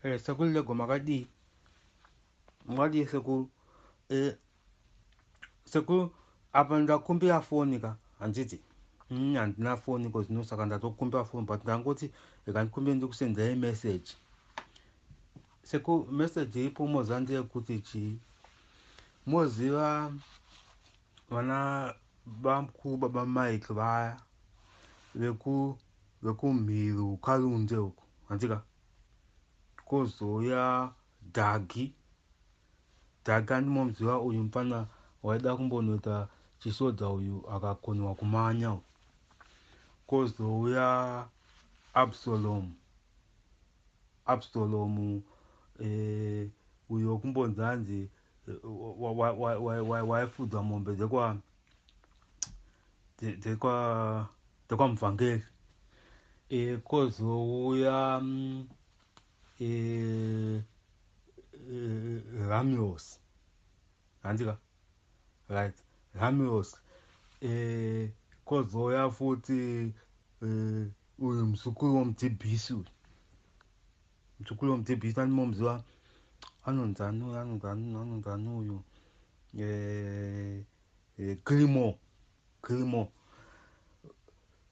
Eh, sekuru lego makadii makadii sekuru eh, sekuru apa ndakumbira foni ka handiti mm, handina foni ko zvino saka ndatokumbira foni but ndangoti ikandikumbira ndikusendera imessage seku message iripo moziva ndeyekuti chii moziva vana bamku baba mike vaya vekumhiru karunde uko handika kozouya dhagi dhagi andimomuziva uyu mupana waida kumbonoita chisodza uyu akakonewa kumanya kozouya absalomu absalomu eh, uyo kumbonzi hanzi eh, waifudzwa mombe dzekwa dzekwamuvhangeri e, eh, kozouya e, e, ramios hanzika right ramios e, kozouya futi e, uyu muzukuru womudhibhisi uyu mzukuru wemudzibhisi animomuziva anonzi anoyo anonzi anoyo anonzi anoyo eh, eh, grimo grimo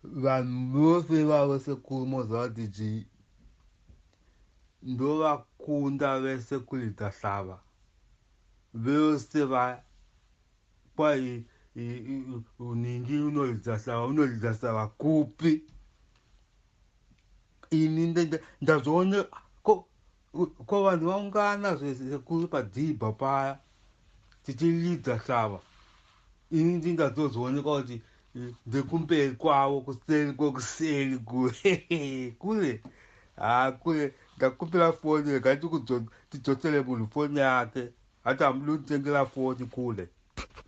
vanhu vose vavo sekuru moziva kuti chii ndovakunda vese kuridza hlava vese va kwai uningi unoridza hlava unoridza hlava kupi ini ndazoone ko ko vanhu vaungana sekuru padzibha paya tichilidza shava ini ndingazozooneka kuti ndekumberi kwavo kuseri kwekuseri kure kure haa kure ndakupira foni rega tidzosere munhu foni yake hati hamudi kutengera foni kure